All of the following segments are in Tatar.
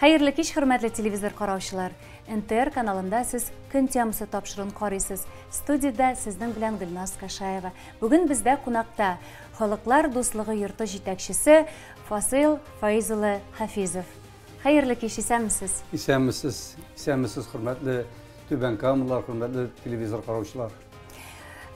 Хәерле кич, хөрмәтле телевизор караучылар! НТР каналында сез Көн темасы тапшыруын карыйсыз. Студиядә сезнең белән Гөлназ Кашаева. Бүген бездә кунакта Халыклар дуслыгы йорты җитәкчесе Фасыйл Фаиз улы Хафизов. Хәерле кич, исәнмесез! Исәнмесез, исәнмесез, хөрмәтле Түбән Камалылар, хөрмәтле телевизор караучылар!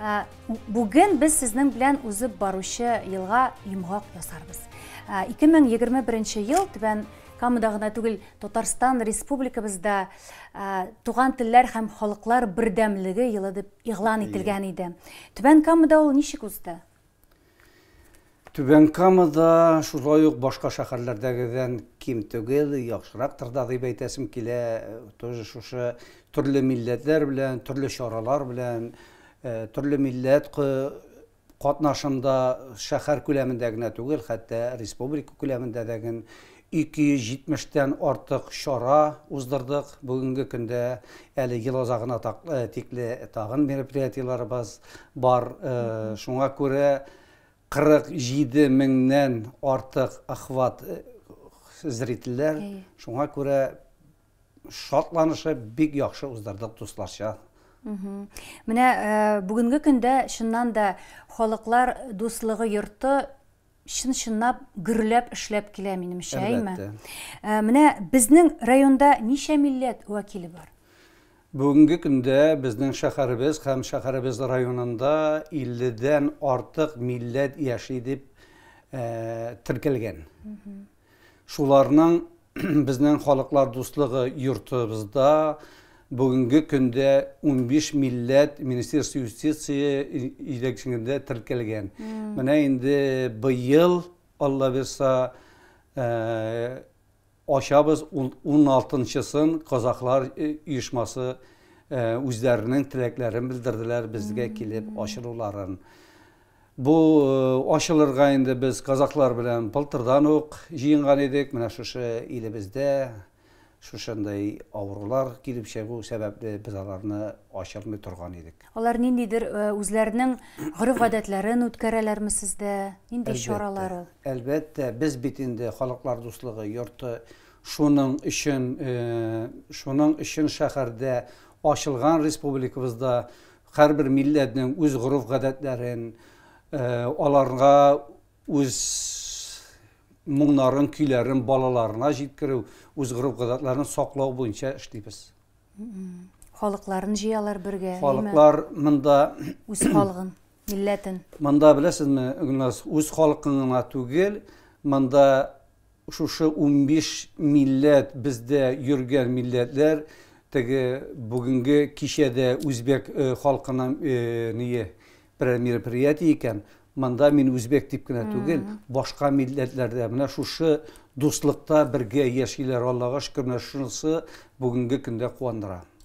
Ә, Бүген без сезнең белән узып баручы елга йомгак ясарбыз. Ә, 2021 ел Түбән Камада гына түгел, Татарстан Республикабызда ә, туган телләр һәм халыклар бердәмлеге елы дип игълан ителгән иде. Түбән Камада ул ничек узды? Түбән Кама да шулай ук башка шәһәрләрдәгедән ким түгел, яхшырактыр да дип әйтәсем килә. Тоже шушы төрле милләтләр белән, төрле чаралар белән, төрле милләт катнашында шәһәр күләмендә генә түгел, хәтта республика күләмендә дә 270 тән артык чара уздырдык. Бүгенге көндә әле ел азагына тикле тагын мероприятиеләребез бар. Шуңа күрә 47 меңнән артык охват зрительләр. Шуңа күрә шатланышып, бик яхшы уздырдык дусларча. Менә бүгенге көндә чыннан да халыклар дуслыгы йорты чын-чынлап гөрләп эшләп килә, минемчә, әйме? Әлбәттә. Менә безнең районда ничә милләт вәкиле бар? Бүгенге көндә безнең шәһәребез һәм шәһәребез районында 50 дән артык милләт яши дип теркәлгән. Шуларның безнең халыклар дуслыгы йортыбызда бүгенге көндә унбиш милләт Министерство юстиции җитәкчелегендә теркәлгән. Менә инде быел, Алла бирса, ачабыз уналтынчысын казахлар оешмасы үзләренең теләкләрен белдерделәр безгә килеп ачылуларын. Бу ачылырга инде без казахлар белән былтырдан ук җыенган идек. Менә шушы илебездә шушындый авырулар килеп чыгу сәбәпле без аларны ачырмый торган идек. Алар ниндидер үзләренең гореф-гадәтләрен үткәрәләрме сездә? Нинди чаралар ул? Әлбәттә, без бит инде Халыклар дуслыгы йорты. Шуның өчен, шуның өчен шәһәрдә ачылган республикабызда Һәрбер милләтнең үз гореф-гадәтләрен, аларга үз моңнарын, көйләрен балаларына җиткерү, үз гореф-гадәтләрен саклау буенча эшлибез. Халыкларын җыялар бергә, әйеме? Халыклар монда үз халыгын, милләтен. Монда беләсезме, Гөлназ, үз халыкын гына түгел, монда Шушы унбиш милләт бездә йөргән милләтләр теге бүгенге кичәдә үзбәк халкының ние берәр мероприятие икән, монда мин үзбәк дип кенә түгел, башка милләтләрдә менә шушы дуслыкта бергә яшиләр, Аллага шөкер, менә шунысы бүгенге көндә куандыра.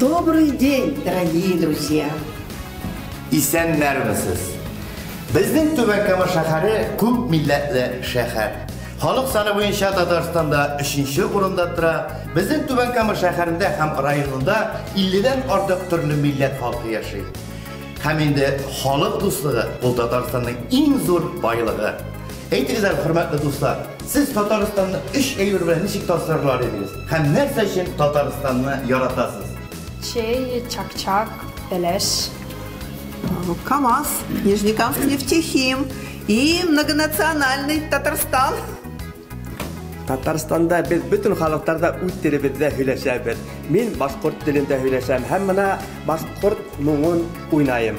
Добрый день, дорогие друзья! Исәннәрмесез! Безнең Түбән Кама шәһәре күп милләтле шәһәр. Халык саны буенча Татарстанда 3 урында тора. Безнең Түбән Кама шәһәрендә һәм районында 50-дән артык төрле милләт халкы яши. Һәм инде халык дуслыгы ул Татарстанның иң зур байлыгы. Әйтегез әле, хөрмәтле дуслар, сез Татарстанны өч әйбер белән ничек тасвирлар идегез? Һәм нәрсә өчен Татарстанны яратасыз? Чәй, чак-чак, бәләш. КАМАЗ, Нижнекамск нефтехим и многонациональный Татарстан. Татарстанда без бөтен халыктарда үз телебездә һөйләшәбез. Мин башкорт телендә һөйләшәм һәм менә башкорт моңын уйнаем.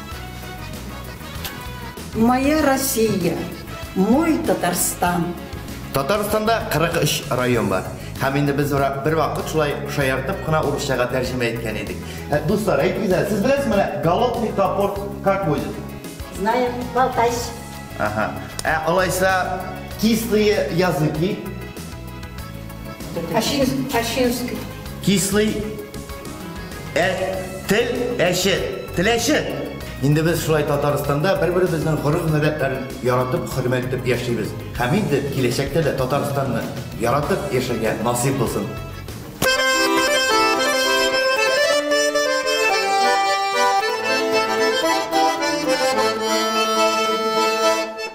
Моя Россия, мой Татарстан. Татарстанда 43 район бар. Һәм инде без ора бер вакыт шулай шаяртып кына урысчага тәрҗемә иткән идек. Ә, Дуслар, әйтегез, әле, сез беләсез менә голодный топор как будет? Знаю, болтайш. Ага. Ә алайса кислые языки Ащинский. Кислый тел әше, теләше. Инде без шулай Татарстанда бер-беребезнең гореф-гадәтләрен яратып, хөрмәт итеп яшибез. Һәм инде киләчәктә дә Татарстанны яратып яшәргә насыйп булсын.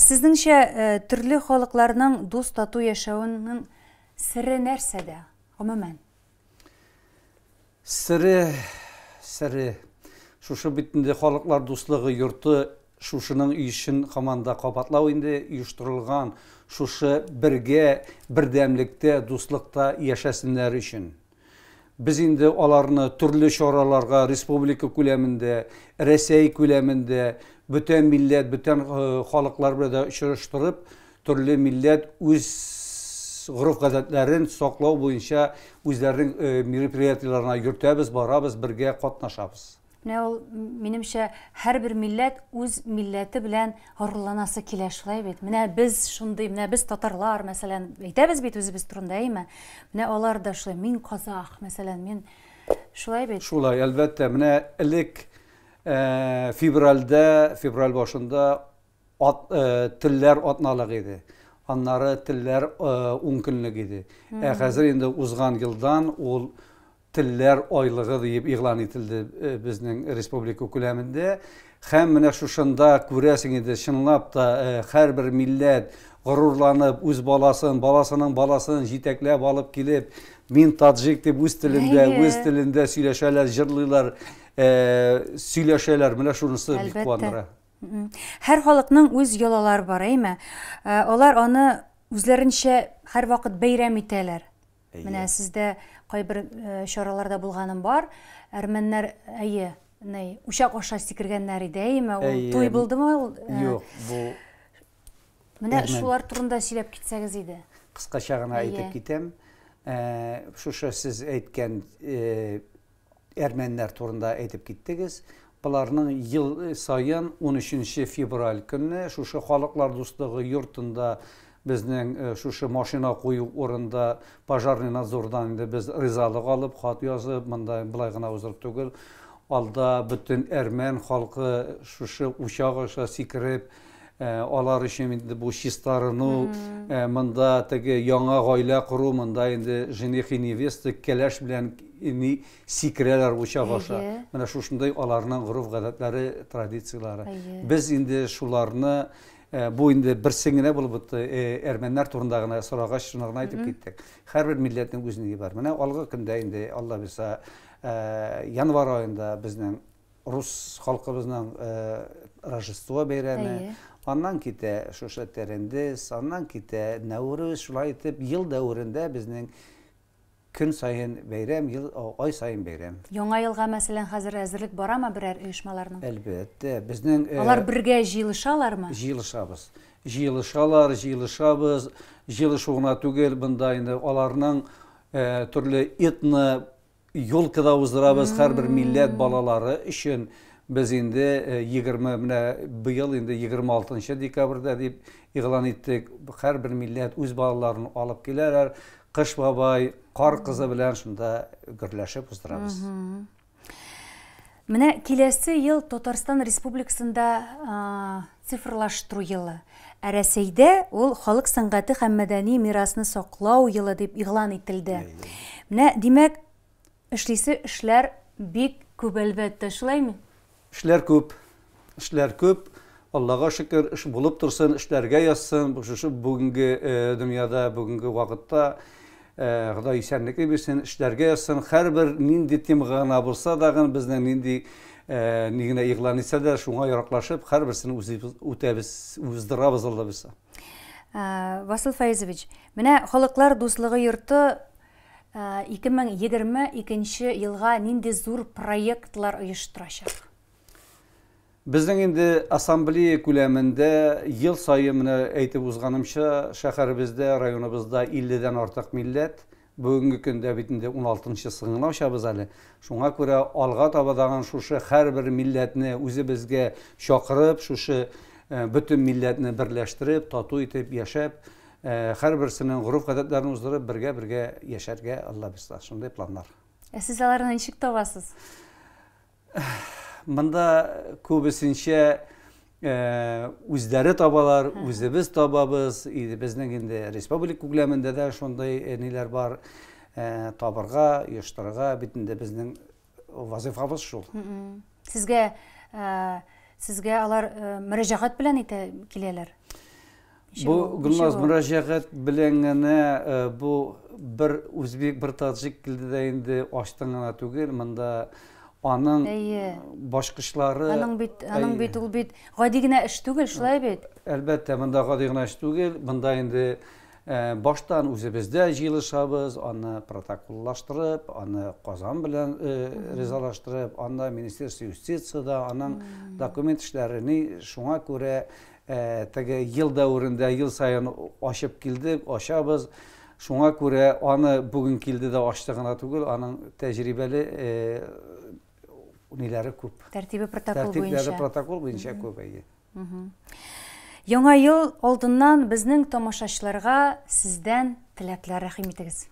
Сезнеңчә, төрле халыкларның дус тату яшәвенең сере нәрсәдә, гомумән? Сере, сере. Шушы бит инде халыклар дуслыгы йорты, шушының өчен хаман да кабатлау инде оештырылган, шушы бергә, бердәмлектә, дуслыкта яшәсеннәр өчен. Без инде аларны төрле чараларга республика күләмендә, Рәсәй күләмендә, бөтен милләт, бөтен халыклар белән дә очраштырып, Төрле милләт үз гореф-гадәтләрен саклау буенча үзләренең мероприятиеләренә йөртәбез, барабыз, бергә катнашабыз. Менә ул, минемчә, һәрбер милләт үз милләте белән горурланасы килә, шулай бит? Менә без шундый, менә без татарлар, мәсәлән, әйтәбез бит үзебез турында, әйеме? Менә алар да шулай, мин казах, мәсәлән, мин Шулай бит? Шулай, әлбәттә. Менә элек февральдә, февраль башында Ат, э, телләр атналык иде. Аннары телләр э, ун көнлек иде. Ә хәзер инде узган елдан ул телләр айлыгы диеп игълан ителде э, безнең республика күләмендә. Һәм менә шушында күрәсең инде чынлап та э, һәрбер милләт горурланып үз баласын, баласының баласын җитәкләп алып килеп, мин таджик дип үз телендә, үз телендә сөйләшәләр, җырлыйлар, э, сөйләшәләр. Менә шунысы бик куандыра. Һәр халыкның үз йолалары бар, әйме? Э, алар аны үзләренчә һәрвакыт бәйрәм итәләр. Менә сездә кайбер э, чараларда булганым бар. Әрмәннәр, әйе, ни, учак аша сикергәннәр иде, әйме? Ул туй булдымы? Э, Юк, бу Менә шулар турында сөйләп китсәгез иде. Кыскача гына әйтеп китәм. Шушы сез әйткән Әрмәннәр турында әйтеп киттегез. Боларның ел саен 13 февраль көнне шушы халыклар дуслыгы йортында безнең э, шушы машина кую урында пожарный надзордан инде без ризалык алып хат язып монда былай гына узып түгел алда бөтен әрмән халкы шушы учак аша сикереп Алар өчен инде бу чистарыну, монда теге яңа гаилә кору, монда инде жених и невеста кәләш белән ни сикерәләр учак аша. Менә шушындый аларның гореф-гадәтләре, традицияләре. Без инде шуларны бу инде берсен генә булып бетте, әрмәннәр турында гына сорагач, шуны гына әйтеп киттек. Һәрбер милләтнең үз ни бар. Менә алгы көндә инде, Алла бирса, январь аенда безнең Рус халкыбызның Рождество бәйрәме, аннан китә шушы Терендес, аннан китә Нәүрүз, шулай итеп ел дәверендә безнең көн саен бәйрәм, ел, ай саен бәйрәм. Яңа елга, мәсәлән, хәзер әзерлек барамы берәр оешмаларның? Әлбәттә, безнең э, Алар бергә җыелышалармы? Җыелышабыз. Җыелышалар, җыелышабыз. Җыелышу гына түгел, бында инде аларның э, төрле этно Ёлка да уздырабыз һәрбер милләт балалары өчен. Без инде 20 э, менә быел инде 26 декабрьдә дип игълан иттек. Һәрбер милләт үз балаларын алып киләләр. Кыш бабай, кар кызы белән шунда гөрләшеп уздырабыз. Менә киләсе ел Татарстан Республикасында Цифрлаштыру елы, ә Рәсәйдә ул Халык сәнгате һәм мәдәни мирасны саклау елы дип игълан ителде. Менә, димәк, эшлисе эшләр бик күп, әлбәттә, шулаймы? Эшләр күп, эшләр күп. Аллага шөкер, эш булып торсын, эшләргә язсын. Шушы бүгенге дөньяда, бүгенге вакытта Ходай исәнлекле бирсен, эшләргә язсын. Хәрбер нинди темага гына булса дагын, безнең нинди ни генә игълан итсә дә, шуңа яраклашып, хәрберсен үзебез үтәбез, уздырабыз алла булса. Васил Фаизович, менә халыклар дуслыгы йорты 2022 елга нинди зур проектлар оештырачак? Безнең инде ассамблея күләмендә ел саен менә әйтеп узганымча, шәһәребездә, районыбызда 50 дән артык милләт, бүгенге көндә бит инде 16 нчысын гына ачабыз әле. Шуңа күрә алга таба тагын шушы һәрбер милләтне үзебезгә чакырып, шушы э, бөтен милләтне берләштереп, тату итеп яшәп, э, һәрберсенең гореф-гадәтләрен уздырып, бергә-бергә яшәргә Алла бирса. Шундый планнар. Ә сез аларны ничек табасыз? Монда күбесенчә үзләре табалар, үзебез табабыз. Безнең инде республика күләмендә дә шундый ниләр бар. Табырга, оештырырга бит инде безнең вазифабыз шул. Сезгә сезгә алар мөрәҗәгать белән итә киләләр? Бу Гөлназ мөрәҗәгать белән генә э, бу бер үзбек, бер таҗик килде дә инде ачтың гына түгел, монда аның башкышлары Аның бит, аның бит ул бит гади генә эш түгел, шулай бит. Әлбәттә, монда гади генә эш түгел, монда инде э, баштан үзебездә җыелышабыз, аны протоколлаштырып, аны Казан белән э, ризалаштырып, анда Министерство юстицияда аның документ эшләрен шуңа күрә Теге ел дәверендә ел саен ачып килдек, ачабыз. Шуңа күрә аны бүген килде дә ачты гына түгел, аның тәҗрибәле ниләре күп. Тәртибе протокол буенча. Тәртипләре протокол буенча күп, әйе. Яңа ел алдыннан безнең тамашачыларга сездән теләкләр рәхим итегез.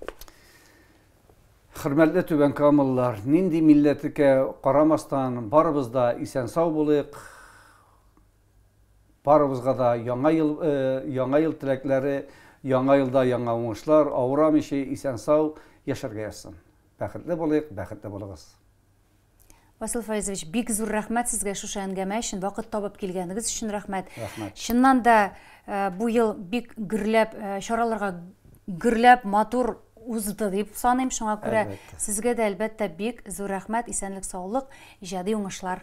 Хөрмәтле Түбән Камалылар, нинди милләтекә карамастан, барыбыз да исән-сау булыйк, Барыбызга да яңа ел яңа ел теләкләре, яңа елда яңа уңышлар, авырамыйча, исән-сау яшәргә язсын. Бәхетле булыйк, бәхетле булыгыз. Васил Фаизович, бик зур рәхмәт сезгә шушы әңгәмә өчен, вакыт табып килгәнегез өчен рәхмәт. Рәхмәт. Чыннан да бу ел бик гөрләп чараларга гөрләп, матур узды дип саныйм. Шуңа күрә сезгә дә әлбәттә бик зур рәхмәт, исәнлек, саулык, иҗади уңышлар.